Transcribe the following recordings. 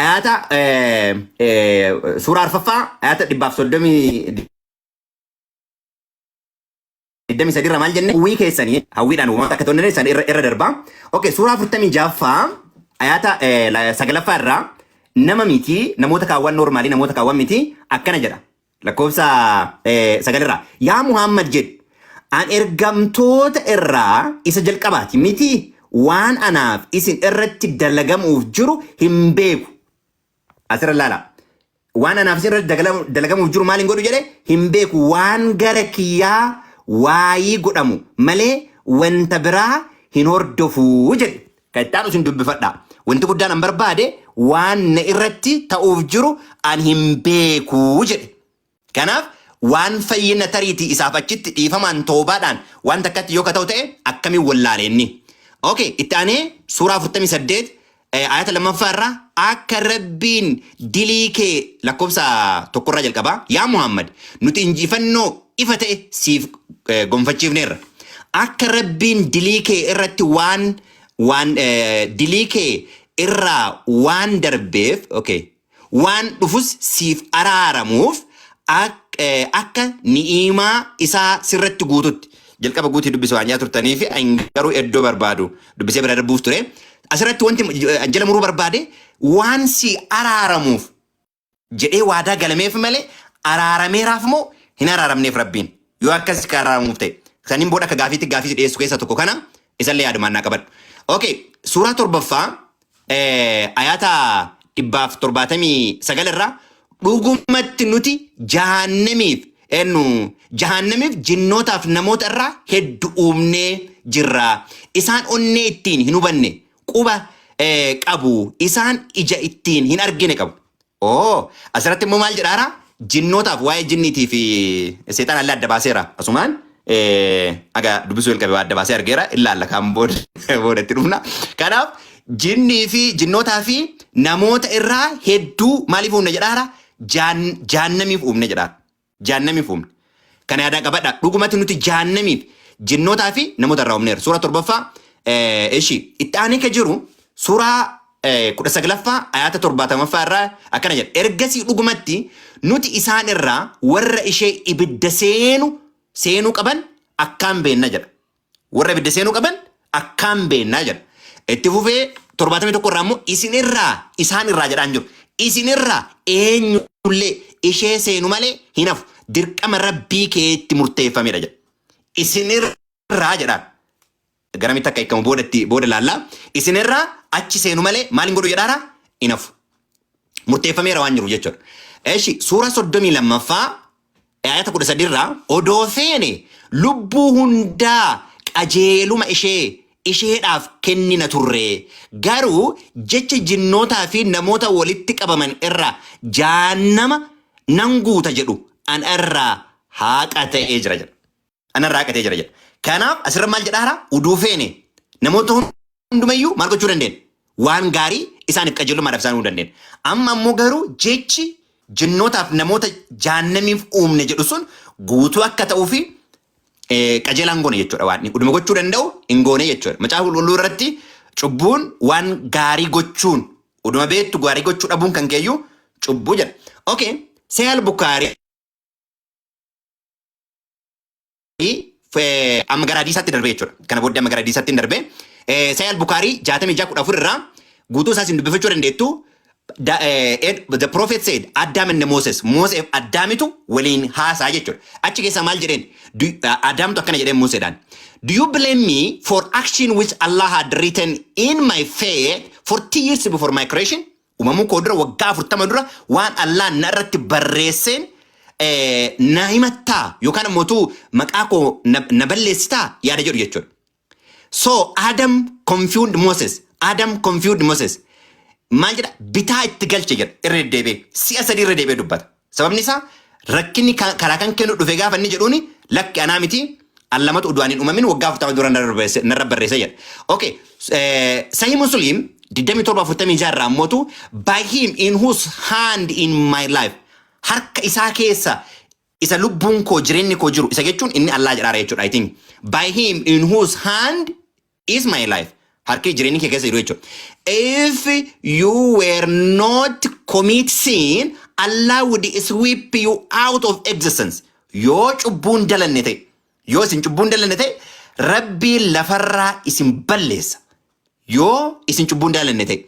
ayaata eh, eh, suuraa arfaffaa ayaata dhibbaaf soddomii digdamii sadi irra maal jenne hawwii keessanii hawwiidhaan uumaata akka ta'u san irra irra darbaa okay suuraa afurtamii jaaffaa ayaata eh, la- sagalaffaa irraa nama miti namoota kaawwan noormaalii namoota kaawwan miti akkana jedha lakkoofsa eh, sagal irraa yaa Muhammad jedhi an ergamtoota irraa isa jalqabaati miti waan anaaf isin irratti dalagamuuf jiru hin beeku asirra laala waan anaaf isin irratti dagala- dalagamuuf jiru maal hin godhu jedhe hin beeku waan gara kiyyaa waayii godhamu malee wanta biraa hin hordofuu jedhe Kan itti aanu isin dubbifadhaa. Wanti guddaan an barbaade waan na irratti ta'uuf jiru an hin beeku jedhe. Kanaaf waan fayyina tariitii isaaf achitti dhiifamaan toobaadhaan waan takkatti yoo ka ta'u ta'e akkamiin wallaale inni. Okay, itti aanee suuraa 48 eh, ayata lammaffaa irraa akka rabbiin dilii kee lakkoofsa tokkorraa jalqabaa yaa Muhammad nuti injifannoo ifa ta'e siif eh, gonfachiifneerra. Akka Rabbiin dilii kee irratti waan waan eh, dilii kee irraa waan darbeef okay, waan dhufus siif araaramuuf ak- eh, akka ni'iimaa isaa sirratti guututti jalqaba guutii dubbisa waan jaa turtanii fi ani garuu iddoo barbaadu dubbisee bira darbuuf ture. Asirratti wanti eh, jala muruu barbaade waan si araaramuuf jedhee waadaa galameef malee araarameeraaf moo hin araaramneef rabbiin yoo akkas ka araaramuuf ta'e saniin booda akka gaafiitti gaafii si dhiyeessu keessa tokko kana isallee yaadumaan naa qabadhu. Okay, suuraa torbaffaa eh, ayaata dhibbaaf torbaatamii sagal irraa dhugumatti nuti jahannamiif ennu jahannamiif jinnootaaf namoota irraa heddu uumnee jirra. Isaan onnee ittiin hin hubanne quba eh, qabu isaan ija ittiin hin argine qabu. Oo asirratti immoo maal jedhaara? Jinnootaaf waa'ee jinniitii fi seexaan allee adda baaseera. Asumaan eh, aga dubbisuu jalqabe waa adda baasee argeera ilaalla kaan booda booda itti dhufna. Kanaaf jinnii fi jinnootaa fi namoota irraa hedduu maaliif uumne jedhaara? Jaan- Jaannamiif uumne jedhaara. Jahannamiif uumne. Kana yaadaa qabadhaa. Dhugumatti nuti jahannamiif jinnootaa fi namoota irraa uumneera. Suuraa torbaffaa eh, ishii itti aanee ka jiru suuraa eh, kudha saglaffaa ayaata torbaatamaffaa irraa akkana jedha. Ergasii dhugumatti nuti isaan irraa warra ishee ibidda seenu seenuu qaban akkaan beenna jedha. Warra ibidda seenuu qaban akkaan beennaa jedha. Itti fufee 71 irraa immoo isin irraa isaan irraa jedhaan jiru. Isin irraa eenyullee ishee seenu malee hin hafu. Dirqama rabbii keetti murteeffamedha jedha. Isin irraa jedhaan. Garamitti akka hiikamu boodatti booda laallaa. Isin irraa achi seenu malee maal hin godhu jedhaara hin hafu. Murteeffameera waan jiru jechuudha. Eshi suura 32ffaa Aayata kudha sadiirraa odoo feene lubbuu hundaa qajeeluma ishee isheedhaaf kennina turre. Garuu jecha jinnootaa fi namoota walitti qabaman irraa Jahannama nan guuta jedhu ana irraa haaqa ta'ee jira jedha. anarraa haqatee jira jedha. Kanaaf asirra maal jedha hara uduu feene namoota hundumayyuu maal gochuu dandeenya? Waan gaarii isaaniif qajeelummaadhaaf isaan uumuu dandeenya. Amma ammoo garuu jechi jinnootaaf namoota jaannamiif uumne jedhu sun guutuu akka ta'uu fi eh, qajeelaan goone jechuudha waan inni uduma gochuu danda'u hin goone jechuudha. Macaafa qulqulluu irratti cubbuun waan gaarii gochuun uduma beektu gaarii gochuu dhabuun kan keeyyuu cubbuu jedha. Okay, Sahih al-Bukhari eh, amma gara hadiisaatti darbee jechuudha. Kana booddee amma gara hadiisaatti hin darbee. Eh, Sahih al-Bukhari 66:14 irraa guutuu isaas hin dubbifachuu dandeettu. Da- eh, Ed- The prophet said, Adam and Moses, Moses Addaamitu waliin haasaa jechuudha. Achi keessaa maal jedheen? Du- eh, Adaamtu akkana jedheen Museedhaan. Do you blame me for action which Allah had written in my faith 40 years before my creation? Uumamuu koo dura waggaa 40 dura waan Allaan na irratti barreesseen eh, na himattaa yookaan immoo utuu maqaa koo na na balleessitaa yaada jedhu jechuudha. So Adam confused Moses. Adam confused Moses. Maal jedha? Bitaa itti galche jedha. Irra deddeebi'ee. Si'a sadii irra deebi'ee dubbata. Sababni isaa rakkinni ka- karaa kan kennu dhufe gaafa inni jedhuuni lakki anaa miti an lamatu udu'aan hin uumamin waggaa afurtama dura narra barreesse- narra barreesse jedha. Okay. eh, Sahih Muslim 2746 irraa ammootu by him in whose hand in my life harka isaa keessa isa lubbuun koo jireenyi koo jiru isa jechuun inni Allah jedhaara jechuudha I think. By him in whose hand is my life harki jireenyi kee keessa jiru jechuudha. If you were not commit sin, Allah would sweep you out of existence. Yoo cubbuun dalanne ta'e, yoo isin cubbuun dalanne ta'e, Rabbiin lafarraa isin balleessa. Yoo isin cubbuun dalanne ta'e.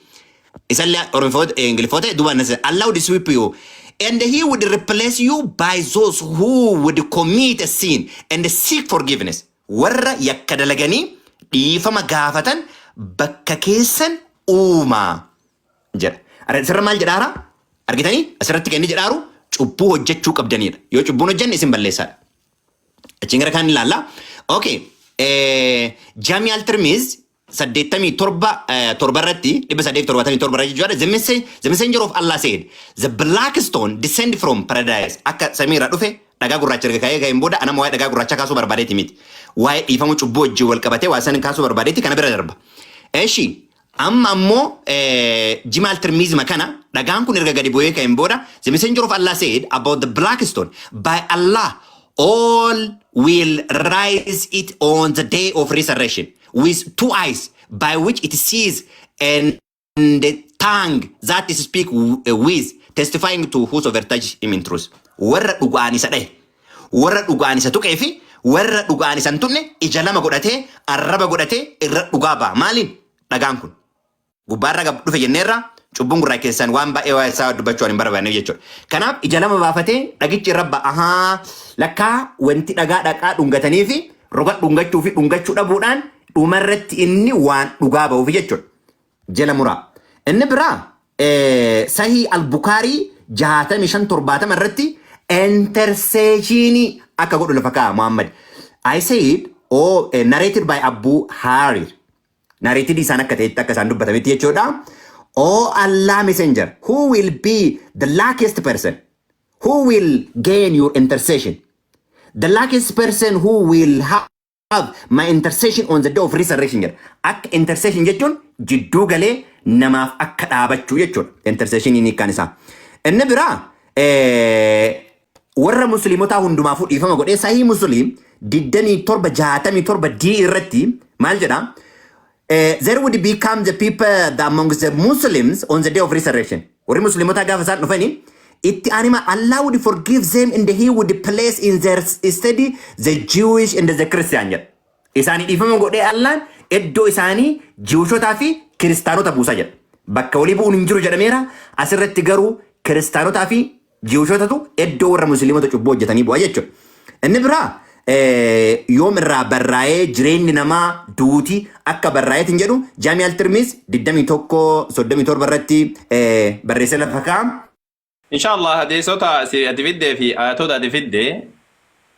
Isallee Oromoota, Ingiliffoota duubaan na seena. Allah would sweep you. And he would replace you by those who would commit a sin and seek forgiveness. Warra yakka dalaganii dhiifama gaafatan bakka keessan uumaa jedha. Ara isirra maal jedhaara? Argitanii? Asirratti kan inni jedhaaru cubbuu hojjechuu qabdaniidha. Yoo cubbuun hojjanne isin balleessaadha. Achiin gara kaan ilaalla. Okay. Eh, Jamial Tirmiz 87 eh, torba irratti 877 irra jechuudha the message the messenger of Allah said the black stone descend from paradise akka samii irraa dhufe dhagaa gurraacha erga ka'ee ka'een booda anama waa'ee dhagaa gurraacha kaasuu barbaadeeti miti waa'ee dhiifama cubbuu wajjin wal qabatee waa san kaasuu barbaadeeti kana bira darba eshi amma ammoo eh, jimaal tirmiizima kana dhagaan kun erga gadi bu'ee ka'een booda the messenger of Allah said about the black stone by Allah all will rise it on the day of resurrection with two eyes by which it sees and the tongue that it speak with testifying to whosoever touch him in truth. Warra dhugaan isa dhahe, warra dhugaan isa tuqee fi warra dhugaan isa hin tuqne ija lama godhatee, arraba godhatee irra dhugaa ba'a. Maaliin? Dhagaan kun. gubbaarra gab dhufe jenneerra cubbuun gurraa keessaan waan baay'ee waa'ee isaa dubbachuu waan hin barbaanneef jechuudha. Kanaaf ija lama baafatee dhagichi irra ba'a. Ahaa lakkaa wanti dhagaa dhaqaa dhungatanii fi roga dhungachuu fi dhungachuu dhabuudhaan dhuma irratti inni waan dhugaa ba'uuf jechuudha. Jala muraa. Inni biraa eh, sahii albukaarii jahaatamii shan torbaatama irratti interseeshinii akka godhu lafa kaa'a Muhammad. I said, oh, eh, narrated by Abu Harir. Narrated isaan akka ta'etti akka isaan dubbatametti jechuudha. Oh Allah messenger, who will be the luckiest person who will gain your intercession? The luckiest person who will have have my intercession on the day of resurrection jedha. Akka intercession jechuun jidduu galee namaaf akka dhaabachuu jechuudha. Intercession inni kan isaa. Inni biraa eh, Warra Musliimotaa hundumaafuu dhiifama godhee Sahih Muslim 27 67 D irratti maal jedha? Eh, there would become the people the amongst the Muslims on the day of resurrection. Warri Musliimotaa gaafa isaan dhufani itti anima Allah would forgive them and he would place in their steady the Jewish and the Christian jedha. Isaanii dhiifama godhee Allaan iddoo isaanii Jiwishotaa fi Kiristaanota buusa jedha. Bakka walii bu'uun hin jiru jedhameera. Asirratti garuu Kiristaanotaa fi Jiwushotatu eddoo warra musliimota cubbuu hojjetanii bu'a jechuudha. Inni biraa eh, yoom irraa barraa'ee jireenyi namaa duuti akka barraa'eet hin jedhu Jaami Altirmiis 21 37 irratti eh, barreessee lafa kaa'ama. Inshallah hadiisota si ati fiddee fi ayatoota ati fidde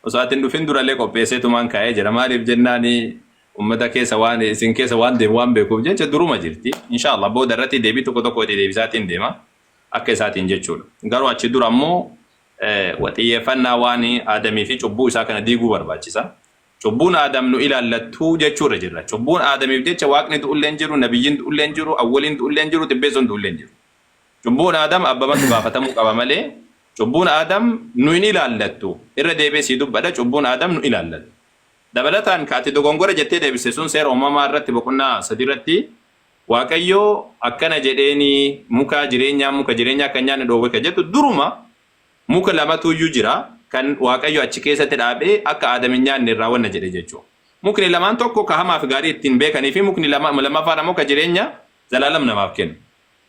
osoo ati hin dhufin durallee qopheessee tumaan kaa'ee jira. Maaliif jennaan ummata keessa waan isin keessa waan deemu waan beekuuf jecha duruma jirti. Inshallah booda irratti deebii tokko tokko itti deebisaatiin deema. akka isaatiin jechuudha. Garuu achi dura immoo xiyyeeffannaa waan Aadamii fi cubbuu isaa kana diiguu barbaachisa. Cubbuun Aadam nu ilaallattu jechuu irra jirra. Cubbuun Aadamiif jecha waaqni du'ullee hin jiru, nabiyyiin du'ullee hin jiru, awwaliin du'ullee hin jiru, xibbeessoon du'ullee hin jiru. Cubbuun Aadam abbamatu gaafatamuu qaba malee cubbuun Aadam nu hin ilaallattu. Irra deebi'ee sii dubbadha cubbuun Aadam nu ilaallattu. Dabalataan ka ati dogongora jettee deebiste sun seera uumamaa irratti boqonnaa 3 irratti Waaqayyo akkana jedheeni muka jireenyaa muka jireenyaa akka hin nyaanne dhoowwe ka jettu duruma muka lamatu iyyuu jira kan Waaqayyo achi keessatti dhaabee akka Aadam hin nyaanne irraa wanna jedhe jechuudha. Mukni lamaan tokko ka hamaa fi gaarii ittiin beekanii fi mukni lama, lammaffaan ammoo ka jireenya zalaalam namaaf kennu.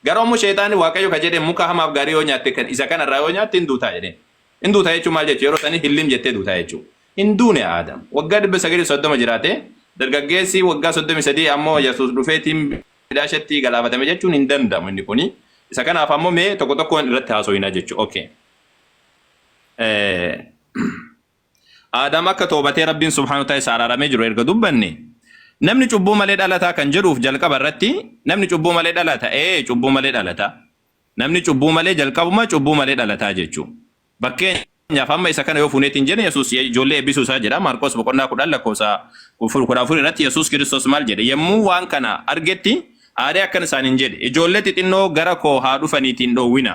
Garuu ammoo sheexaanni Waaqayyo ka jedhe muka hamaa fi gaarii yoo nyaatte kan isa kana irraa yoo nyaatte hin duutaa jedheen. Hin duuta jechuun maal jechuudha? Yeroo sanii hillim jettee duuta jechuudha. Hin duune Aadam. Waggaa 930 jiraate. Dargaggeessi waggaa 33 ammoo Yesuus dhufee tiimbiidhaa isheetti galaafatame jechuun hin danda'amu inni kuni. Isa kanaaf ammoo mee tokko tokkoon irratti haasoyina jechuudha. Okay. Aadam akka toobatee Rabbiin subhaanahu ta'e isa araaramee jiru erga dubbanne namni cubbuu malee dhalataa kan jedhuuf jalqaba irratti namni cubbuu malee dhalata ee cubbuu malee dhalata. Namni cubbuu malee jalqabuma cubbuu malee dhalataa jechu. Bakkeenyaaf amma isa kana yoo fuuneetiin jene Yesuus ijoollee eebbisuu isaa jedha Maarqoos boqonnaa 10 lakkoofsa 14 irratti Yesuus Kiristoos maal jedhe yemmuu waan kana argetti aaree akkan isaaniin jedhe ijoollee xixinnoo gara koo haa dhufaniitiin dhoowwina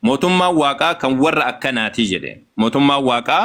mootummaan waaqaa kan warra akkanaatii jedhe mootummaan waaqaa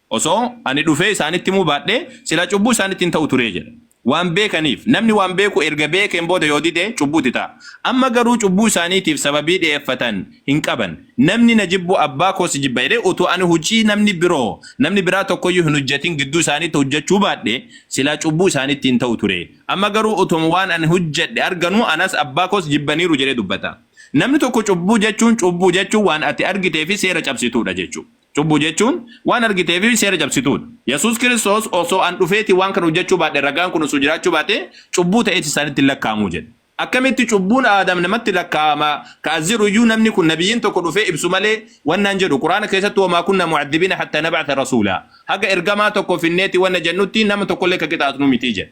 Osoo ani dhufee isaanitti himuu baadhee, silaa cubbuu isaanitti hin ta'u ture jedha. Waan beekaniif, namni waan beeku erga beekeen booda yoo dide, cubbuu itti ta'a. Amma garuu cubbuu isaaniitiif sababii dhi'eeffatan hin qaban. Namni na jibbu Abbaa koo si jibba jedhee utuu ani hojii namni biroo, namni biraa tokko iyyuu hin hojjetin gidduu isaaniitti hojjechuu baadhee, silaa cubbuu isaanitti hin ta'u ture. Amma garuu utuma waan ani hojjedhe arganuu anas Abbaa koos jibbaniiru jedhee dubbata. Namni tokko cubbuu jechuun, cubbuu jechuun waan ati argitee fi seera cabsituu dha jechuu dha. Cubbuu jechuun waan argitee fi seera cabsituudha. Yesuus Kiristoos osoo an dhufeeti waan kana hojjechuu baadhe ragaan kun osoo jiraachuu baate cubbuu ta'eeti isaanitti hin lakkaa'amu jedhe. Akkamitti cubbuun Aadam namatti lakkaa'ama ka as jedhu iyyuu namni kun nabiyyiin tokko dhufee ibsu malee wanna hin jedhu. Qur'aana keessatti wamaa kunna mu'addibiina hattaa nab'atha rasuulaa. Haga ergamaa tokko finneeti wanna jennutti nama tokkollee ka qixaaxnu miti jedhe.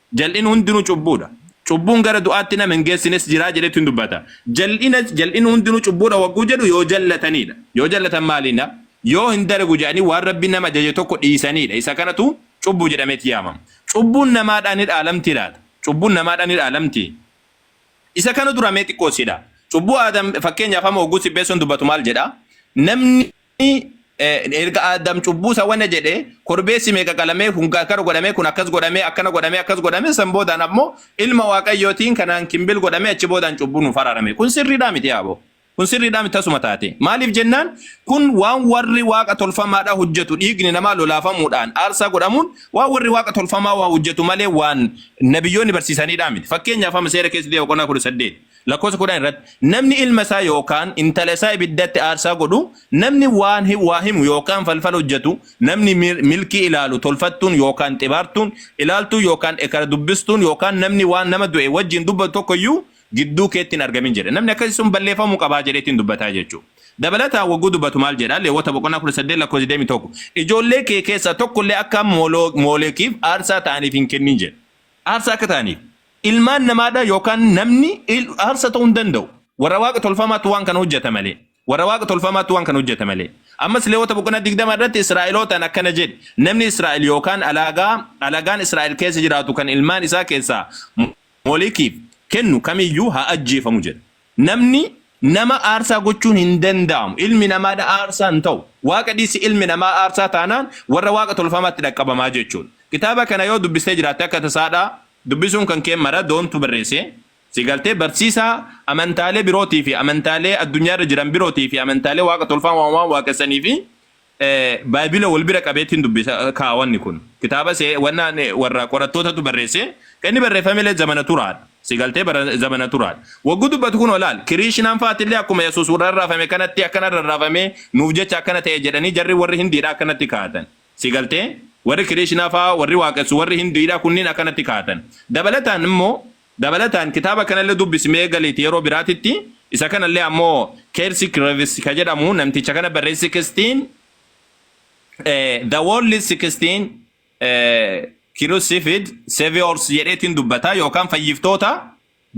Jal'inni hundinuu cubbuudha. Cubbuun gara du'aatti nama hin geessines jira jedhetu hin dubbata. Jal'ina jal'inni hundinuu cubbuudha wagguu jedhu yoo jallataniidha. Yoo jallatan maaliina? Yoo hin dalagu jedhanii waan Rabbiin nama ajaje tokko dhiisaniidha. Isa kanatu cubbuu jedhameeti yaamama. Cubbuun namaadhaan ni dhaalamtii laata? Cubbuun namaadhaan ni dhaalamtii? Isa kana dura mee xiqqoo si dha. Cubbuu Aadam fakkeenyaaf amma wagguu sibbeessoon dubbatu maal jedha? Namni Inni erga Aadam cubbuu isa wana jedhe korbeessi meeqa qalamee kun akkana godhamee kun akkas godhamee akkana godhamee akkas godhamee san boodaan ammoo ilma waaqayyootiin kanaan kimbil godhamee achi boodaan cubbuu nuuf araarame kun sirriidhaa miti yaaboo kun sirriidhaa miti tasuma taate maaliif jennaan kun waan warri waaqa tolfamaadhaa hojjetu dhiigni namaa lolaafamuudhaan aarsaa godhamuun waan warri waaqa tolfamaa waa hojjetu malee waan nabiyyoonni barsiisaniidhaa miti fakkeenyaaf amma seera keessatti boqonnaa kudha saddeet Lakkoofsa kudhan irratti namni ilma isaa yookaan intala isaa ibiddatti aarsaa godhu, namni waan hi- waa himu yookaan falfala hojjetu, namni mil- milkii ilaalu, tolfattuun yookaan xibaartuun, ilaaltuun yookaan ekara dubbistuun yookaan namni waan nama du'e wajjin dubbatu tokko iyyuu gidduu keetti hin argamin jedhe. Namni akkasii sun balleeffamuu qaba jedheetiin dubbataa jechuudha. Dabalataan wagguu dubbatu maal jedha? Leewwota boqonnaa 18 lakkoofsa 21. Ijoollee kee keessaa tokko illee akka Mooloo- Moolekiif aarsaa ta'aniif hin kennin jedhe. Aarsaa akka ta'aniif. Ilmaan namaa dha yookaan namni il, aarsa ta'uu hin danda'u. Warra waaqa tolfamaatu waan kana hojjeta malee. Warra waaqa tolfamaatu waan kana hojjeta malee. Ammas Leewota boqonnaa 20 irratti Israa'elootaan akkana jedhi, namni Israa'el yookaan alaagaa, alagaan Israa'el keessa jiraatu kan ilmaan isaa keessaa Molikiif kennu kam iyyuu haa ajjeefamu jedha. Namni nama aarsaa gochuun hin danda'amu. Ilmi namaa dha aarsaa hin ta'u. Waaqa dhiisi ilmi namaa aarsaa taanaan warra waaqa tolfamaatti dhaqqabamaa jechuudha. Kitaaba kana yoo dubbistee jiraatte akka tasaa dha dubbisuun kan kee mara Don tu barreesse. Si galtee barsiisaa amantaalee birootii fi amantaalee addunyaa irra jiran birootii fi amantaalee waaqa tolfamaa waan waaqessanii fi Baayibila wal bira qabeetiin dubbisa kaa wanni kun. Kitaaba se wanna warra qorattootatu barreesse kan inni barreeffame illee zamana turaadha. Si galtee bara zamana turaadha. Waggu dubbatu kun olaal kiriishinaan faati illee akkuma Yesuus warra rarraafame kanatti akkana rarraafamee nuuf jecha akkana ta'e jedhanii jarri warri hindiidha akkanatti kaa'atan. Si galtee? Warri kiriishinaa faa warri waaqessu warri hindiidha kunniin akkanatti kaa'atan. Dabalataan immoo Dabalataan kitaaba kanallee dubbisi mee galiiti yeroo biraatitti isa kanallee ammoo Kelsey Krevis ka jedhamu namticha kana barreesse 16 eh, The World 16 eh, Crucified Saviors jedheetiin dubbata yookaan fayyiftoota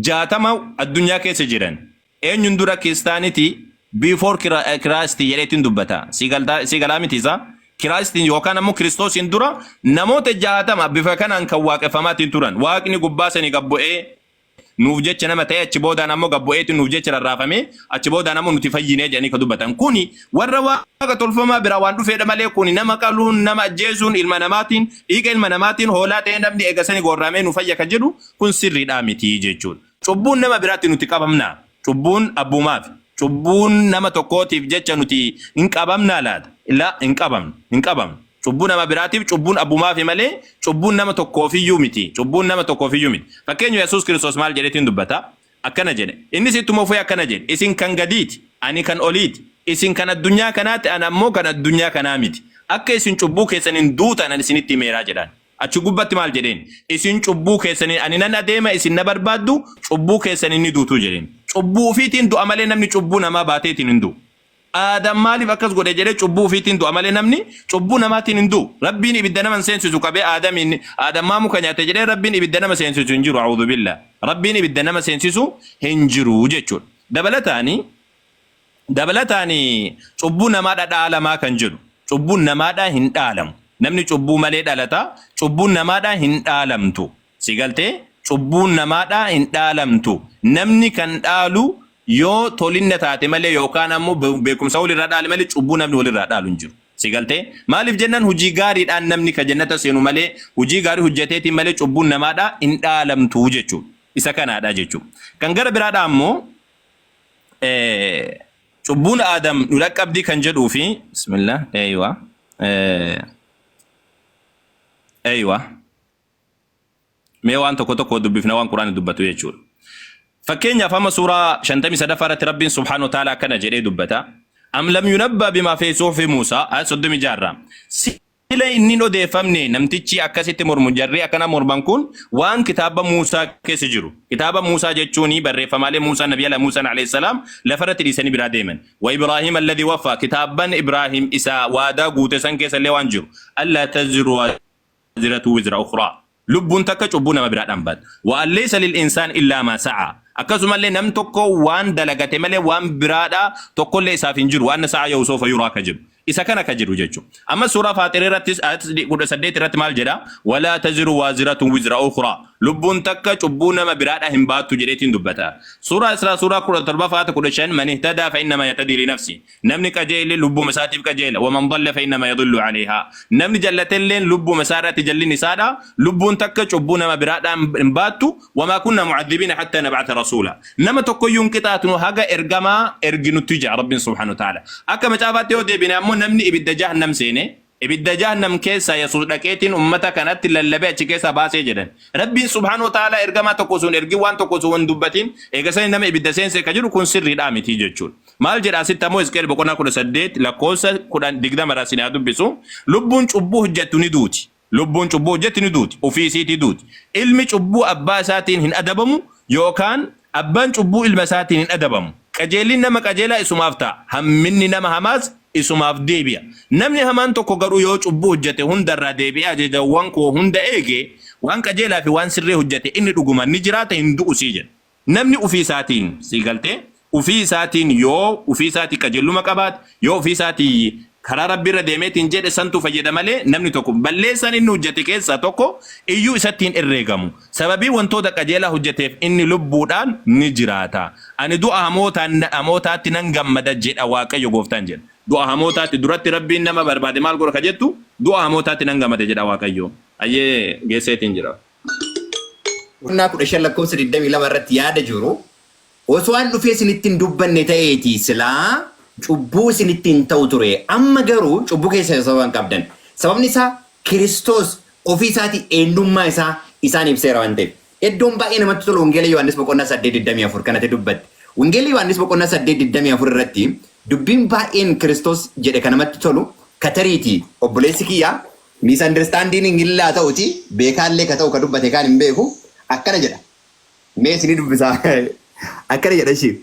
jaatama addunyaa keessa jiran Eenyun dura kiistaaniti before Christ jedhee ittin dubbata. Sii galaa miti isa? Christ yookaan ammoo Kiristoosiin dura namoota 60 bifa kanaan kan waaqeffamaatiin turan. Waaqni gubbaa sani gad bu'ee nuuf jecha nama ta'ee achi boodaan ammoo gad bu'eetiin nuuf jecha rarraafamee achi boodaan ammoo nuti fayyinee jedhanii kan dubbatan. Kuni warra waaqa tolfamaa biraa waan dhufeedha malee kuni nama qaluun, nama ajjeesuun, ilma namaatiin, dhiiga ilma namaatiin hoolaa ta'ee namni eega sani goorraamee nu fayya kan jedhu kun sirriidhaa miti jechuudha. Cubbuun nama biraatti nuti qabamnaa? Cubbuun abbuumaaf. Cubbuun nama tokkootiif jecha nuti hin qabamnaa laata? La, hin qabamnu, hin qabamnu. Cubbuu nama biraatiif cubbuun abbumaafi malee cubbuun nama tokkoofiyyuu miti. Cubbuun nama tokkoofiyyuu miti. Fakkeenya Yesuus Kiristoos maal jedhetiin dubbata? Akkana jedhe. Innis ittuma fufee akkana jedhe. Isin kan gadiiti, ani kan oliiti. Isin kan addunyaa kanaati, ana ammoo kan addunyaa kanaa miti. Akka isin cubbuu keessaniin duutan ani isinitti himeeraa jedhaan. Achi gubbatti maal jedheen? Isin cubbuu keessaniin ani nan adeema, isin na barbaaddu, cubbuu keessaniin ni duutu jedheen. Cubbuu ufiitiin du'a malee namni cubbuu namaa baateetiin hin du'u. Aadam maaliif akkas godhe jedhee cubbuu ufiitiin du'a malee namni cubbuu namaatiin hin du'u. Rabbiin ibidda nama hin seensisu qabee Aadamiin Aadam maa muka nyaate jedhee Rabbiin ibidda nama seensisu hin jiru a'uudhu billah. Rabbiin ibidda nama seensisu hin jiru jechuudha. Dabalataani Dabalataan cubbuu namaadha dhaalamaa kan jedhu cubbuun namaadha hin dhaalamu. Namni cubbuu malee dhalata cubbuun namaadha hin dhaalamtu. Si galtee cubbuun namaadha hin dhaalamtu. Namni kan dhaalu yoo tolinna taate malee yookaan ammoo be- beekumsa walirraa dhaale malee cubbuu namni walirraa dhaalu hin jiru. Si galtee maaliif jennaan hojii gaariidhaan namni ka jannata seenu malee hojii gaarii hojjeteetiin malee cubbuun namaadha hin dhaalamtu jechuudha. Isa kanaadha jechuudha. Kan gara biraadha ammoo cubbuun aadam nu dhaqqabdii kan jedhuu fi bismillah eeywa eeywa mee waan tokko tokko dubbifna waan quraani dubbatu jechuudha fakkeenyaaf amma suuraa 53 irratti rabbiin subhaanahu wa ta'aala akkana jedhee dubbata am lam yunabba bima fi suhufi muusaa ayat 36 irraa Sila inni hin odeeffamne namtichi akkas itti mormu jarri akkana morman kun waan kitaaba Muusaa keessa jiru. Kitaaba Muusaa jechuun barreeffamaalee Muusaa Nabi Ala Muusaan alayhissalaam lafarratti dhiisanii biraa deeman. Wa Ibraahiim alladhi waffaa kitaabban Ibraahiim isa waadaa guute san keessa illee waan jiru. Allaa taziru waaziratu wizra ukhraa. Lubbuun takka cubbuu nama biraa dhambaat. Wa an laysa lil insaan illaa maa sa'aa. Akkasumallee nam tokko waan dalagate malee waan biraadhaa tokkollee isaaf hin jiru. Wa anna sa'ayahu sawfa yuraa ka jedhu. Isa kana ka jedhu jechu. Amma suuraa Faaxir irrattis ayat 18 irratti maal jedha? Wa laa taziru waaziratun wizra ukhraa. Lubbuun takka cubbuu nama biraadhaa hin baattu jedheetiin dubbata. Suuraa Israa suuraa 17 ayat 15 man ihtadaa fa innamaa yahtadii li nafsii. Namni qajeele lubbuma isaatiif qajeela. Waman dalla fa'innama yadullu alayhaa. Namni jallatelleen lubbuma isaa irratti jallin isaadha. Lubbuun takka cubbuu nama biraadhaa hin baattu. Wamaa kunna mu'adhibiina hattaa nab'ata rasuula. Nama tokkoyyuu hin qixaatnu haga ergamaa erginutti ja'a Rabbiin subhaanahu wa ta'aala. Akka macaafaatti yoo deebine ammoo namni ibidda jahannam seene Ibidda Jahannam keessaa Yesuus dhaqeetiin ummata kanatti lallabee achi keessaa baasee jedhan. Rabbiin subhaanahu wa ta'aalaa ergamaa tokko osoo hin ergin waan tokko osoo hin dubbatin eega sanii nama ibidda seense ka jedhu kun sirriidhaa mitii jechuudha. Maal jedha asitti ammoo Hisqi'el boqonnaa 18 lakkoofsa 10 20 irraa isinii haa dubbisu. Lubbuun cubbuu hojjattu ni duuti. Lubbuun cubbuu hojjatti ni duuti. Ufii isiitii duuti. Ilmi cubbuu abbaa isaatiin hin adabamu yookaan Abbaan cubbuu ilma isaatiin hin adabamu. Qajeelli nama qajeelaa isumaaf ta'a, hamminni nama hamaas isumaaf deebi'a. Namni hamaan tokko garuu yoo cubbuu hojjete hunda irraa deebi'ee ajajawwan koo hunda eege, waan qajeelaa fi waan sirrii hojjete, inni dhugumaan ni jiraata, hin du'usii jedha. Namni ufii isaatiin, sii galtee? ufii isaatiin yoo ufii isaatii qajeelluma qabaate, yoo ufii isaatii Karaa Rabbi irra deemeetiin jedhe santu fayyada malee namni tokko balleessaan inni hujjate keessaa tokko iyyuu isatti hin herreegamu. Sababii wantoota qajeelaa hujjateef inni lubbuudhaan ni jiraata. Ani du'a hamootaan, hamootaatti nan gammada jedha Waaqayyo gooftaan jedha. Du'a hamootaatti, duratti Rabbiin nama barbaade maal godha ka jettu, du'a hamootaatti nan gammada jedha Waaqayyo. Hayyee geesseetiin jira. Boqonnaa 15 lakkoofsa 22 irratti yaada jiru Osoo an dhufee isinitti hin dubbanne ta'eetii silaa cubbuu isinitti hin ta'u ture, amma garuu cubbuu keessaniif sababa hin qabdan, sababni isaa Kiristoos ofii isaatii eennummaa isaa isaan ibseera waan ta'eef. Eddoon baay'ee namatti tolu Wangeela Yohaannis boqonnaa 8 24 kan ati dubbatte. Wangeelli Yohaannis boqonnaa 8 24 irratti dubbiin baay'een Kiristoos jedhe ka namatti tolu ka tariitii obboleessi kiyya misunderstanding illee haa ta'utii beekaallee ka ta'u ka dubbate kaan hin beeku akkana jedha. Mee isinii dubbisaa. Akkana jedha ishii.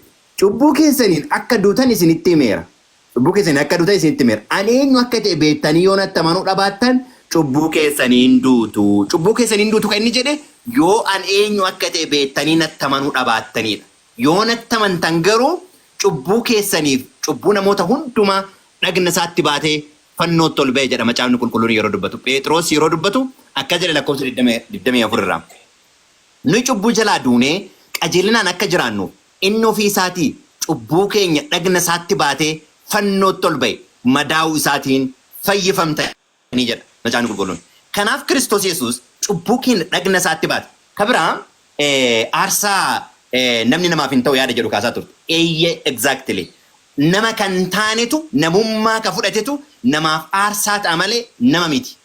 Cubbuu keessaniin akka duutan isinitti himeera. Cubbuu keessaniin akka duutan isinitti himeera. Ani eenyu akka ta'e beektanii yoo natti amanuu dhabaattan cubbuu keessanii in duutu. Cubbuu keessanii in duutu kan inni jedhe yoo an eenyu akka ta'e beektanii natti amanuu dhabaattaniidha. Yoo natti amantan garuu cubbuu keessaniif cubbuu namoota hundumaa dhagna isaatti baatee fannootti ol ba'e jedha macaafni qulqulluun yeroo dubbatu. Pheexiroos yeroo dubbatu akkas jedha lakkoofsa 20, 24 irraa. Nuyi cubbuu jalaa duunee qajeelinaan akka jiraannuuf inni ofii isaatii cubbuu keenya dhagna isaatti baatee fannootti ol ba'e, madaa'uu isaatiin fayyifamtanii jedha Macaafni Qulqulluun. Kanaaf Kiristoos Yesuus cubbuu keenya dhagna isaatti baate. Ka biraa aarsaa namni namaaf hin ta'u yaada jedhu kaasaa turte. Eeyyee, exactly. Nama ka hin taanetu, namummaa ka fudhatetu namaaf aarsaa ta'a malee nama miti.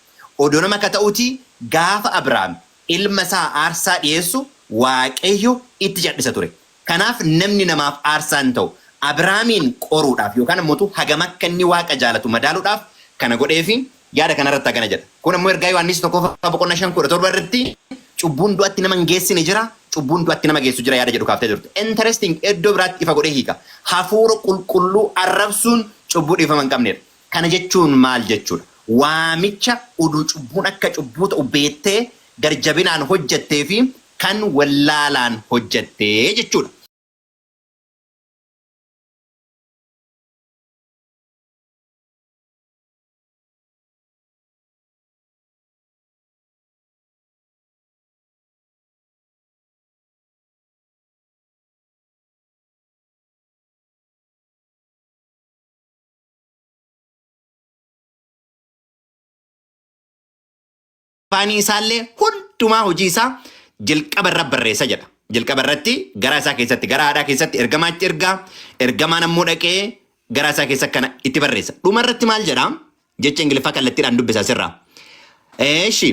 Odoo nama ka ta'utii gaafa Abrahaam Ilma isaa aarsaa dhi'eessu Waaqayyo itti cadhisa ture. Kanaaf namni namaaf aarsaa hin ta'u. Abraamiin qoruudhaaf yookaan ammo utuu hagam akka inni Waaqa jaalatu madaaluudhaaf kana godheefi yaada kana irratti hagana jedha. Kun ammo ergaa Yohaannis 1ffaa boqonnaa 5 17 irratti cubbuun du'atti nama hin geessine jira, cubbuun du'atti nama geessu jira yaada jedhu kaaftee turte. Interesting eddoo biraatti ifa godhee hiika. Hafuura qulqulluu arrabsuun cubbuu dhiifama hin qabneedha. Kana jechuun maal jechuudha? Waamicha uduu cubbuun akka cubbuu ta'u beettee gar jabinaan hojjattee fi kan wallaalaan hojjatte jechuudha. afaanii isaallee hundumaa hojii isaa jalqaba irra barreessa jedha. Jalqaba irratti garaa isaa keessatti gara haadhaa keessatti ergamaatti ergaa ergamaan ammoo dhaqee garaa isaa keessa kana itti barreessa. Dhuma irratti maal jedha? Jecha Ingiliffaa kallattiidhaan dubbisa sirraa. Eeshi.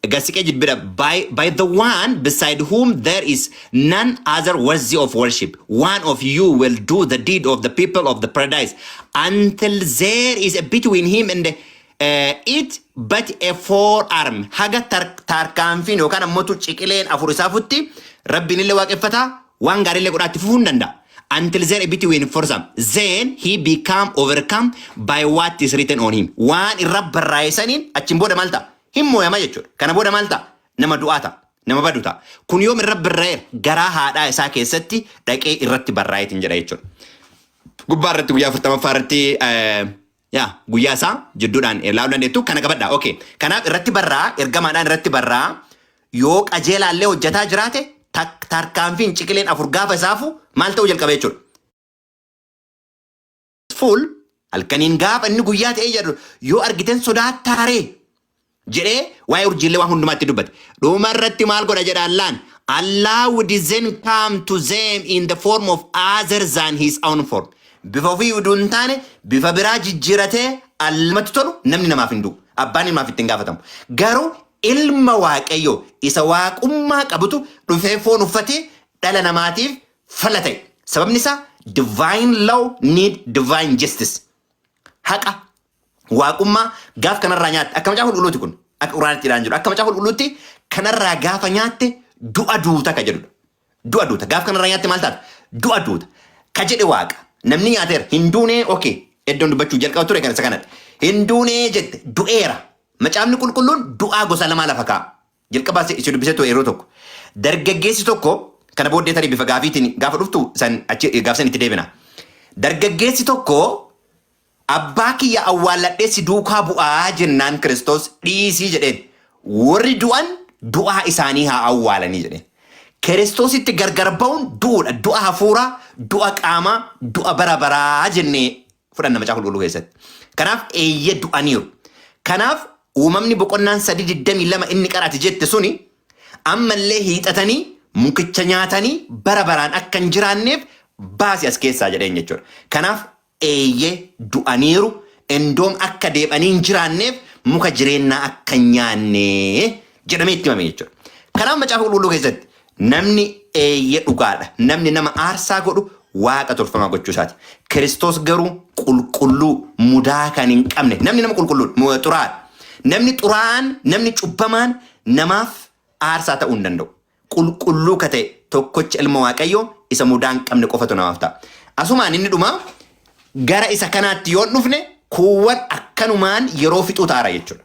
Gasiqee jibbira by, by the one beside whom there is none other worthy of worship. One of you will do the deed of the people of the paradise until there is a between him and uh, it but a forearm. Haga tar tarkaanfiin yookaan ammoo ciqileen afur isaa futti rabbiin illee waaqeffata waan gaarii illee godhaatti fufuu hin danda'a. Until there a between forearm. Then he become overcome by what is written on him. Waan irra barraa'e saniin achiin booda maal ta'a? Hin mooyama jechuudha. Kana booda maal ta'a? Nama du'aa ta'a. Nama badu ta'a. Kun yoom irra birra'eera? Garaa haadhaa isaa keessatti dhaqee irratti barraa'eetiin jedha jechuudha. Gubbaa irratti guyyaa afurtamaffaa irratti eh, yaa guyyaa isaa jidduudhaan eh, ilaaluu dandeettu kana qabadha. Okay. Kanaaf irratti barraa ergamaadhaan irratti barraa yoo qajeelaallee hojjetaa jiraate tak- tarkaanfiin ciqileen afur gaafa isaafu maal ta'uu jalqaba jechuudha. full halkaniin gaafa inni guyyaa ta'ee jedhu yoo argiten sodaattaa ree jedhee waa'ee urjiillee waan hundumaatti dubbate. Dhuma irratti maal godha jedha Allaan? Allah would then come to them in the form of other than his own form. Bifa ofii uduu hin taane bifa biraa jijjiiratee allamatti tolu namni namaaf hin du'u. Abbaan ilmaaf ittiin gaafatamu. Garuu ilma waaqayyoo isa waaqummaa qabutu dhufee foon uffatee dhala namaatiif fala ta'e. Sababni isaa divine law need divine justice. Haqa waaqummaa gaaf kanarraa nyaatte akka macaafa qulqulluuti kun akka quraanitti jedhaan jiru akka macaafa qulqulluutti kanarraa gaafa nyaatte du'a duuta ka jedhudha. Du'a duuta gaaf kanarraa nyaatte maal taata? Du'a duuta ka jedhe waaqa namni nyaateera hin duunee okee iddoon dubbachuu jalqaba ture kan isa kanadha. Hin duunee jette du'eera. Macaafni qulqulluun du'aa gosa lamaa lafa kaa'a. Jalqaba si si dubbisee ture yeroo tokko. Dargaggeessi tokko kana booddee tarii bifa gaafiitiin gaafa dhuftu san achi gaafsan itti deebina. Dargaggeessi tokko abbaa kiyya awwaalladhee si duukaa bu'aa jennaan Kiristoos dhiisii jedheen. Warri du'an du'aa isaanii haa awwaalanii jedheen. Kiristoositti gargar ba'uun du'uudha. Du'a hafuuraa, du'a qaamaa, du'a bara baraa jennee fudhanna macaafa qulqulluu keessatti. Kanaaf eeyyee du'aniiru. Kanaaf uumamni boqonnaan sadii digdamii lama inni qarati jette suni ammallee hiixatanii mukicha nyaatanii bara baraan akka hin jiraanneef baasi as keessaa jedheen jechuudha. Kanaaf eeyyee du'aniiru endoom akka deebanii hin jiraanneef muka jireennaa akka hin nyaanne jedhamee itti himame jechuudha. Kanaaf macaafa qulqulluu keessatti Namni, Eeyye dhugaa dha, namni nama aarsaa godhu waaqa tolfamaa gochuu isaa ti. Kiristoos garuu qulqulluu, mudaa kan hin qabne, namni nama qulqulluu dha, mu- xuraa'aa dha. Namni xuraa'aan, namni cubbamaan namaaf aarsaa ta'uu hin danda'u. Qulqulluu ka ta'e tokkocha Ilma Waaqayyoo isa mudaa hin qabne qofatu namaaf ta'a. Asumaan inni dhumaa gara isa kanaatti yoo hin dhufne kuuwwan akkanumaan yeroo fixuu ta'ara jechuudha.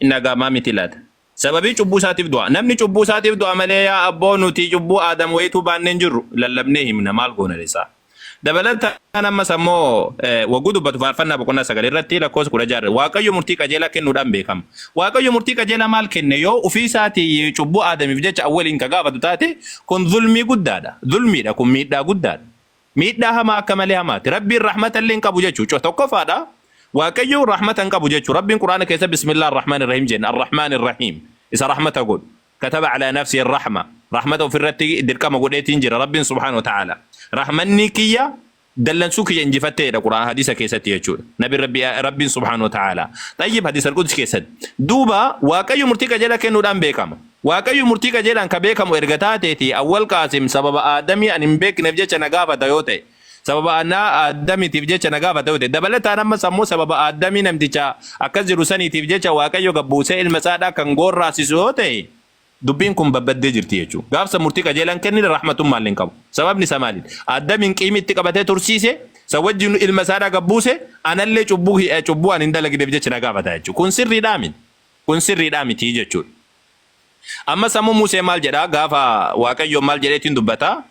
Inni agaamaa miti laata? Sababii cubbuu isaatiif du'a. Namni cubbuu isaatiif du'a malee yaa abboo nuti cubbuu Aadam wayituu baannee hin jirru. Lallabnee himna maal goona resaa. Dabalataan ammas ammoo eh, wagguu dubbatu faarfannaa boqonnaa sagal irratti lakkoofsa kudha ja'a irra Waaqayyo murtii qajeelaa kennuudhaan beekama. Waaqayyo murtii qajeelaa maal kenne yoo ofii isaatii cubbuu Aadamiif jecha awwaliin ka gaafatu taate kun zulmii guddaadha. Zulmiidha kun miidhaa guddaadha. Miidhaa hamaa akka malee hamaati. Rabbiin rahmata illee hin qabu jechuu. Co tokkofaadha. Waaqayyo rahmata hin qabu jechuu. Rabbiin Qur'aana keessa Bismillah ar-Rahman ar-Rahim jenna. Ar-Rahman ar-Rahim. Isa rahmata godhu. Kataba ala nafsi ar-Rahma. Rahmata ofirratti dirqama godheetiin jira. Rabbiin subhaanahu wa ta'ala. Rahmanni kiyya dallansuu kiyya injifatteedha Qur'aan hadiisa keessatti jechuudha. Nabi Rabbi, Rabbiin subhaanahu wa ta'ala. Xayyib hadiisa al-Qudsi keessatti. Duuba Waaqayyo murtii qajeelaa kennuudhaan beekama. Waaqayyo murtii qajeelaan ka beekamu erga taatee fi Awwal Qaasim sababa Aadamii ani hin beekneef jecha na gaafata yoo ta'e, sababa ana Aadamitiif jecha na gaafata yoo ta'e, dabalataan ammas ammoo sababa Aadamii namticha akkas jedhu saniitiif jecha Waaqayyo gad buusee ilma isaa dha kan goorraasisu yoo ta'e, dubbiin kun badbaddee jirti jechuudha. Gaafsa murtii qajeelaan kennine rahmatummaallee hin qabu. Sababni isaa maali? Aadamiin qiimi itti qabatee tursiise, san wajjinu ilma isaa dha gad buuse, anallee cubbuu, cubbuu ani hin dalagneef jecha na gaafata jechuudha. Kun sirrii dhaa miti. Kun sirriidhaa mitii jechuudha. Ammas ammoo Musee maal jedhaa gaafa Waaqayyoon maal jedhee ittiin dubbata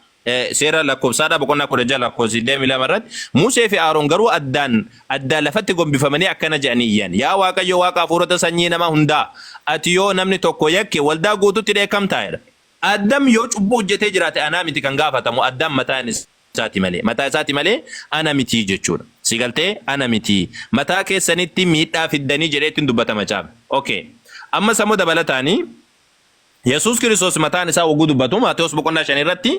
seera lakkoofsaadhaa boqonnaa 16 lakkoofsa 22 irratti Musee fi Aaron garuu addaan addaan lafatti gombifamanii akkana jedhanii iyyan yaa Waaqayyo Waaqa hafuurota sanyii nama hundaa ati yoo namni tokko yakke waldaa guututti dheekkamtaa jedha. Addam yoo cubbuu hojjetee jiraate anaa miti kan gaafatamu addaan mataan isaa. isaati malee, mataa isaati malee ana miti jechuudha. Si galtee? Ana miti. Mataa keessanitti miidhaa fiddanii jedheetti hin dubbata macaafni. Ok. Ammas ammoo dabalataani Yesuus Kiristoos mataan isaa wagguu dubbatu Maatewos boqonnaa 5 irratti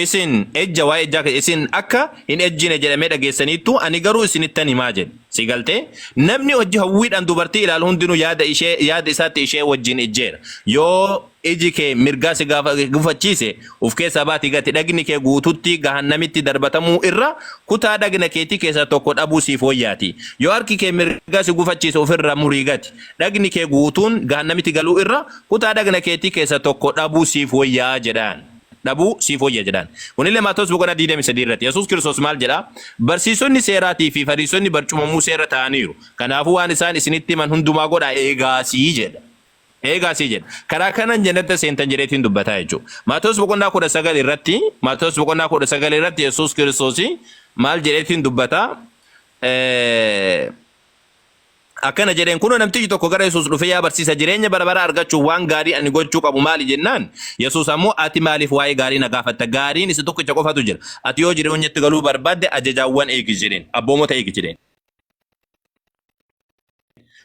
isin ejja waa'ee ejjaa keessa isin akka hin ejjine jedhamee dhageessaniittu ani garuu isinittan himaa jedhe. Si galtee? Namni hojii hawwiidhaan dubartii ilaalu hundinuu yaada ishee yaada isaatti ishee wajjin ejjeera. Yoo Iji kee mirgaa si gufachiise, uf keessaa baati gati, dhagni kee guututti gahannamitti darbatamuu irra kutaa dhagna keetii keessaa tokko dhabuu siif woyyaati. Yoo harki kee mirgaa si gufachiise uf irraa murii gati. Dhagni kee guutuun gahannamitti galuu irra kutaa dhagna keetii keessaa tokko dhabuu siif woyyaa jedhaan. Dhabuu siif woyya jedhaan. Kunillee Maatewos boqonnaa 23 irratti. Yesuus Kiristoos maal jedha? Barsiisonni seeraatii fi Fariisonni barcuma Musee irra taa'aniiru. Kanaafuu waan isaan isinitti himan hundumaa godhaa eegaasii jedha. Eegaa sii jedha. Karaa kanan jannata seentan jedheetiin dubbataa jechuudha. Maatewos boqonnaa kudha sagal irratti Maatewos boqonnaa kudha sagal irratti Yesuus Kiristoos maal jedheetiin dubbata? Eh, Akkana jedheen kunoo namtichi tokko gara Yesuus dhufee yaa barsiisa jireenya bara baraa argachuuf waan gaarii ani gochuu qabu maali jennaan Yesuus ammoo ati maaliif waa'ee gaarii na gaafatta gaariin isa tokkicha qofatu jira ati yoo jireenyatti galuu barbaadde ajajaawwan eegi jedheen abboomota eegi jedheen.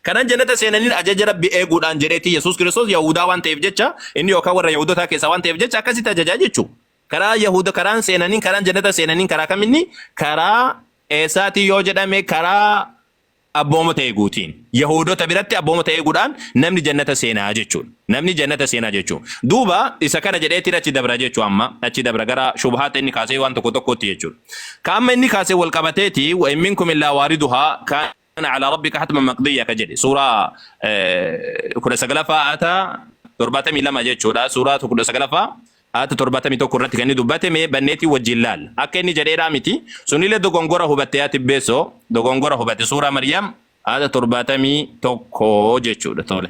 Kanan jannata seenaniin ajaja Rabbi eeguudhaan jedheetti Yesuus Kiristoos Yahudaa waan ta'eef jecha inni yookaan warra Yahudotaa keessaa waan ta'eef jecha akkasitti ajajaa jechuu. Karaa Yahuda karaan seenaniin karaan jannata seenaniin karaa kaminni karaa eessaatii yoo jedhame karaa abboomota eeguutiin. Yahudota biratti abboomota eeguudhaan namni jannata seenaa jechuudha. Namni jannata seena jechu. Duuba isa kana jedheetiin achi dabra jechu amma. Achi dabra gara shubhaata inni kaasee waan tokko tokkootti jechuudha. Ka amma inni kaasee wal qabateeti wa in minkum illaa waariduhaa kaana alaa rabbika hatman maqdiyya ka jedhe suuraa eh, kudha sagalaffaa aata torbaatamii lama jechuudha suuraa kudha sagalaffaa aata torbaatamii tokko irratti kan inni dubbate mee banneetii wajjin laal akka inni jedheedhaa miti sunillee dogongora hubatte yaa tibbeessoo dogongora hubatte suuraa maryam aata torbaatamii tokko jechuudha tole.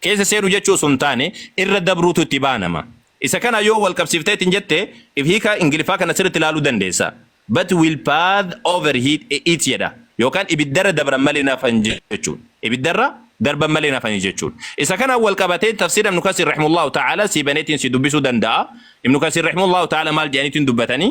keessa seenu jechuu osoo hin taane irra dabruutu itti baanama. Isa kana yoo wal qabsiiftee ittiin jette if hiika Ingiliffaa kana sirriitti ilaaluu dandeessa. But will path overheat it jedha. Yookaan ibiddarra dabran malee hin hafan jechuudha. Ibiddarra darban malee hin hafanii jechuudha. Isa kanaan wal qabatee tafsiira Ibnu Kasiir rahimullahu ta'ala sii baneetiin sii dubbisuu danda'a. Ibnu Kasiir rahimullahu ta'ala maal jedhaniitiin dubbatanii?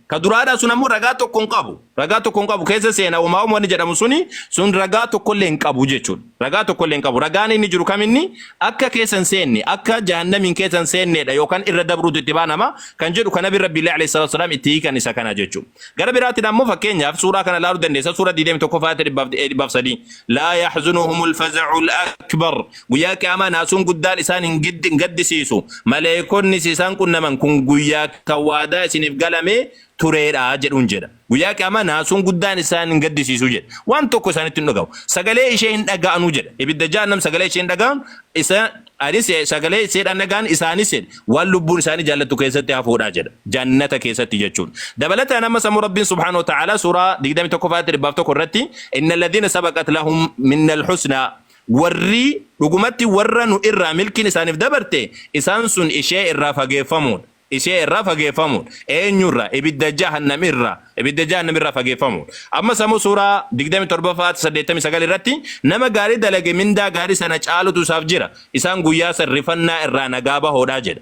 Ka duraadhaa sun ammoo ragaa tokko hin qabu. Ragaa tokko hin qabu keessa seena homaa wanni jedhamu suni sun ragaa tokkollee hin qabu jechuudha. Ragaa tokkollee hin qabu. Ragaan inni jiru kam inni akka keessa hin seenne akka jahannamiin keessa hin seenneedha yookaan irra dabruutu itti baanama kan jedhu kan nabi rabbiillee alayhi salaatu wasalaam itti hiikan isa kana jechuudha. Gara biraatiin ammoo fakkeenyaaf suuraa kana ilaaluu dandeessa suuraa 21 faayata 103 laa yaxzunuhumul faza'ul akbar Guyyaa Qiyaamaa naasuun guddaan isaan hin giddi- hin gaddisiisu. Maleeykonnis isaan qunnaman kun guyyaa kan waadaa isiniif galamee tureedha jedhuun jedha. Guyyaa Qiyaamaa naasuun guddaan isaan hin gaddisiisu jedha. Waan tokko isaanitti hin dhagahu. Sagalee ishee hin dhaga'anu jedha. Ibidda Jahannam sagalee ishee hin dhaga'an isa anis sagalee isheedhaan dhaga'an isaanis jedhe waan lubbuun isaanii jaallattu keessatti hafuudha jedha. Jannata keessatti jechuun. Dabalataan amma sammuu Rabbiin subhaanahu wa ta'aalaa suuraa 21 faatti 100 irratti inna alladhiina sabaqat lahum minnal husnaa Warri, dhugumatti, warra nu irraa milkiin isaaniif dabarte, isaan sun ishee irraa fageeffamoodha. Ishee irraa fageeffamoodha. Eenyu irraa? Ibidda Jahannam irraa. Ibidda Jahannam irraa fageeffamoodha. Ammas ammoo suuraa 27ffaa aayata 89 irratti nama gaarii dalage mindaa gaarii sana caalutu isaaf jira. Isaan guyyaa san rifannaa irraa nagaa bahoodha jedha.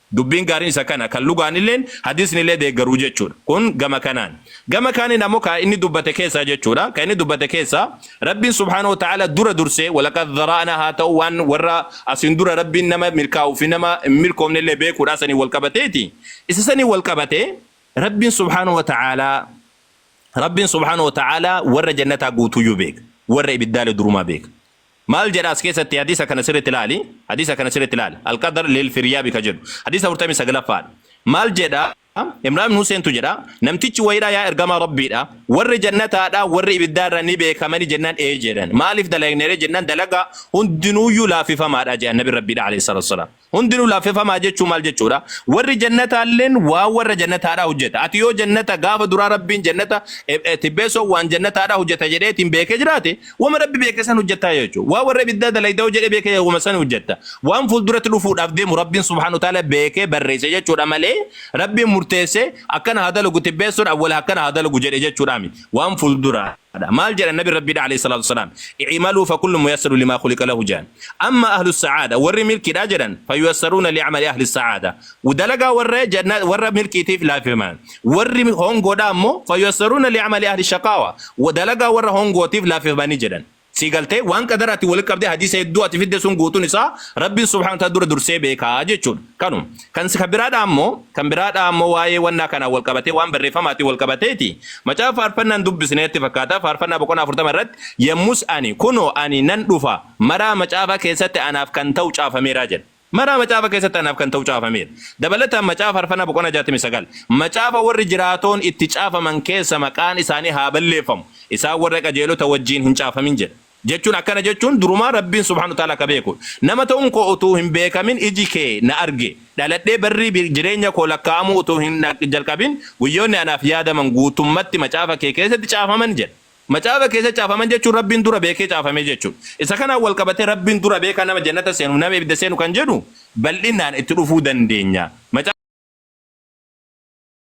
Dubbiin gaariin isa kana, kan lugaanilleen, hadiisnillee deeggaru jechuudha. Kun gama kanaan. Gama kaaniin ammoo ka inni dubbate keessaa jechuudha. Ka inni dubbate keessaa, Rabbiin subhaanahu wa ta'aalaa dura dursee, walaqad zara'naa haa ta'uu waan warra asiin dura Rabbiin nama milkaa'uu fi nama hin milkoofnellee beekuudhaa saniin wal qabateeti. Isa saniin wal qabatee, Rabbiin subhaanahu wa ta'aalaa, Rabbiin subhaanahu wa ta'aalaa warra jannataa guutuuyyuu beeka. Warra ibiddaalee durumaa beeka. Maal jedha as keessatti hadiisa kana sirritti ilaali hadiisa kana sirritti ilaali alqadar lilfiryaabi ka jedhu hadiisa 49ffaadha maal jedha imraan ibn huseentu jedha namtichi wayiidha yaa ergamaa rabbiidha warri jannataadha warri ibiddaarra ni beekamani jennaan ee jedhan maaliif dalagnere jennaan dalagaa hundinuuyyuu laaffifamaadha jedhan nabi rabbiidha alayhi salatu wasalaam Hundinuu laaffefamaa jechuu maal jechuudha? Warri jannataalleen waan warra jannataadhaa hojjeta. Ati yoo jannata gaafa duraa Rabbiin jannata eh, eh, tibbeessoo waan jannataadhaa hojjeta jedheetiin beekee jiraate wama Rabbi beeke san hojjettaa jechuudha. Waan warra ibiddaa dalayda yoo jedhee beekee wama san hojjetta. Waan fuulduratti dhufuudhaaf deemu Rabbiin subhaanahu wa ta'aala beekee barreesse jechuudha malee Rabbiin murteessee akkana haa dalagu tibbeessoon awwala akkana haa dalagu jedhe jechuudha miti. Waan fuulduraa. dha. Maal jedhan Nabiin Rabbii dha, aleyh salaatu wa salaam, I'maluu fa kullun muyassaru limaa khuliqa lahu jedhan. Amma ahlu sa'aada, warri milkii dha jedhan, fa yuyassaruuna li amali ahli sa'aada. Dalagaa warra janna, warra milkiitiif laafifama. Warri hongoo dha ammoo, fa yuyassaruuna li amali ahli shaqaawa. Dalagaa warra hongootiif laafifama ni jedhan. Sii galtee? Waan qadaraatiin walitti qabdee hadiisa hedduu ati fidde sun guutuun isaa Rabbiin subhaanahu wa ta'aala dura dursee beeka jechuu dha. Kanuma. Kan si kan biraa dhaa immoo kan biraa dhaa immoo waa'ee wannaa kanaan wal qabatee waan barreeffamaatiin wal qabateeti. Macaafa faarfannaan dubbisneetti fakkaata faarfannaa boqonnaa afurtama irratti yemmus ani kunoo ani nan dhufa maraa macaafaa keessatti anaaf kan ta'u caafameeraa jedha. Maraa macaafa keessatti anaaf kan ta'u caafameera. Dabalataan macaafa faarfannaa boqonnaa jaatamii sagal macaafa warri jiraatoon itti caafaman keessa maqaan isaanii haa balleeffamu isaan warra qajeelota wajjiin hin caafamin jedha. Jechuun akkana jechuun durumaa Rabbiin subhaanahu wa ta'aalaa ka beeku nama ta'uun koo utuu hin beekamin iji kee na arge, dhaladhee barri jireenya koo lakkaa'amuu utuu hin jalqabin guyyoonni anaaf yaadaman guutummatti macaafa kee keessatti caafaman jedha. Macaafa keessatti caafaman jechuun Rabbiin dura beekee caafame jechuudha. Isa kanaan wal qabatee Rabbiin dura beekaa nama jannata seenuuf nama ibidda seenu kan jedhu bal'inaan itti dhufuu dandeenya.